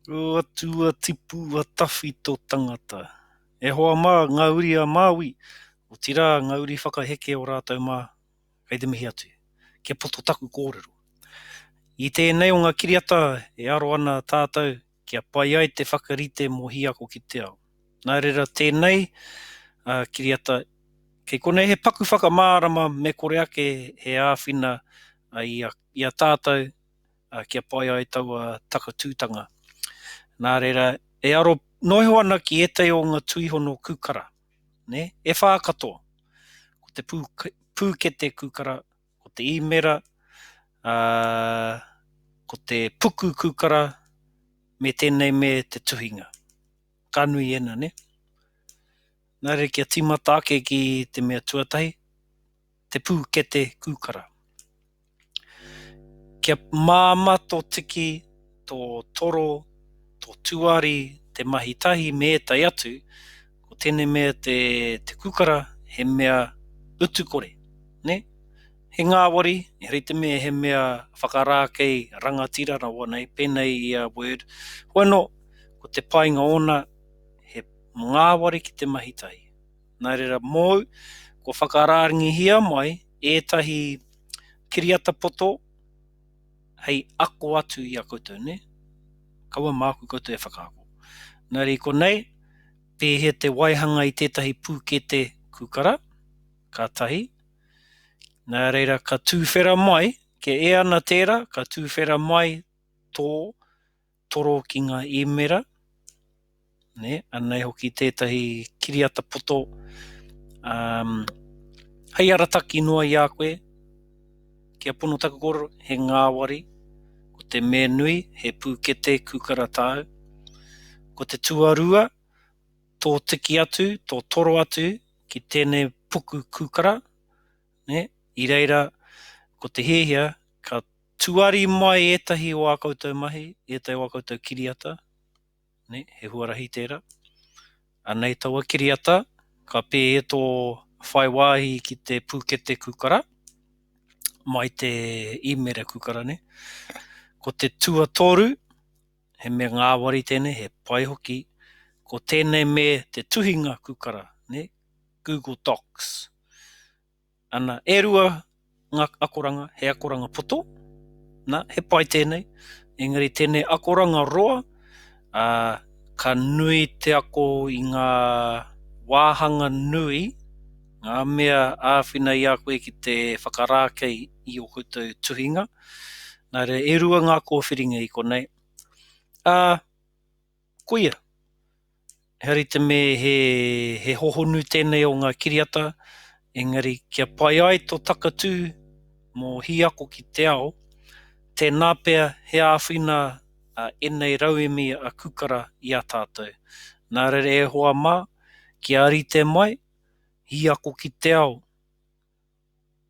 Ua tu ua tipu ua tawhi to tangata. E hoa ma, nga uri a Maui, otira nga uri whakaheke o ratou ma, kei te mihi atu. Kia poto taku korero. I tenei o nga kiriata e aro ana tatou kia pai ai te whakarite mo hiako ki te ao. Na rera tenei a kiriata kei konei he paku whakamarama me kore ake he awhina i a tatou ā, kia pai ai taua takatūtanga. Nā reira, e aro noa iho ana ki ētahi o ngā tuihono kūkara, nē, e whā katoa. Ko te pū, pūkete kūkara, ko te īmera, ā, ko te puku kūkara, me tēnei me te tuhinga. Ka nui ēnā, nē? Nā reira, kia tīmata ake ki te mea tuatahi. te pūkete kūkara. Kia māmā tō tiki, tō toro, tō tuari, te mahi tahi me ētahi atu, ko tēnei mea te kūkara he mea utukore, nē? He ngāwari, engari i te mea he mea whakarākei rangatira rawa nei, pēnei i a Word, hoano, ko te painga ōna, he ngāwari ki te mahi tahi. Nā reira mōu, kua whakarārngihia mai ētahi kiriata poto hei ako atu i a koutou, nē? Kaua māku koutou e whakaako. Nā reira i konei, pēhea te waihanga i tētahi pūkete kūkara? Ka tahi. Nā reira ka tūwhera mai, kia ea ana tērā, ka tūwhera mai tō toro ki ngā īmera, nē, anei hoki tētahi kiriata poto um, hei arataki noa i a koe, kia pono taku kōrero, he ngāwari, ko te me nui, he pūkete kūkara tāu, ko te tuarua, tō tiki atu, tō toro atu ki tēnei puku kūkara, ne? i reira ko te hiahia ka Tuari mai ētahi o ā koutou mahi, ētahi o ā koutou kiriata, nē, he huarahi tērā. Anei taua kiriata, ka pē e tō whai wāhi ki te pūkete kūkara, mai te īmere kūkara nei. Ko te tuatoru, he mea ngāwari tēnei, he pai hoki, ko tēnei me te tuhinga kūkara, nē, Google Docs. Ana, e rua ngā akoranga, he akoranga poto, nā, he pai tēnei, engari tēnei akoranga roa, ā, ka nui te ako i ngā wāhanga nui, ngā mea āwhina i a koe ki te whakarākei i ō koutou tuhinga, nā reira e rua ngā kōwhiringa i konei, ā, Koia. Heari te me he hohonu tenei o nga kiriata, engari kia pai ai to takatu mo hi ako ki te ao, tena pea he āwhina a enei rauemi a Kukara i a tatou. Na rere e hoa ma, kia rite mai, hi ako ki te ao.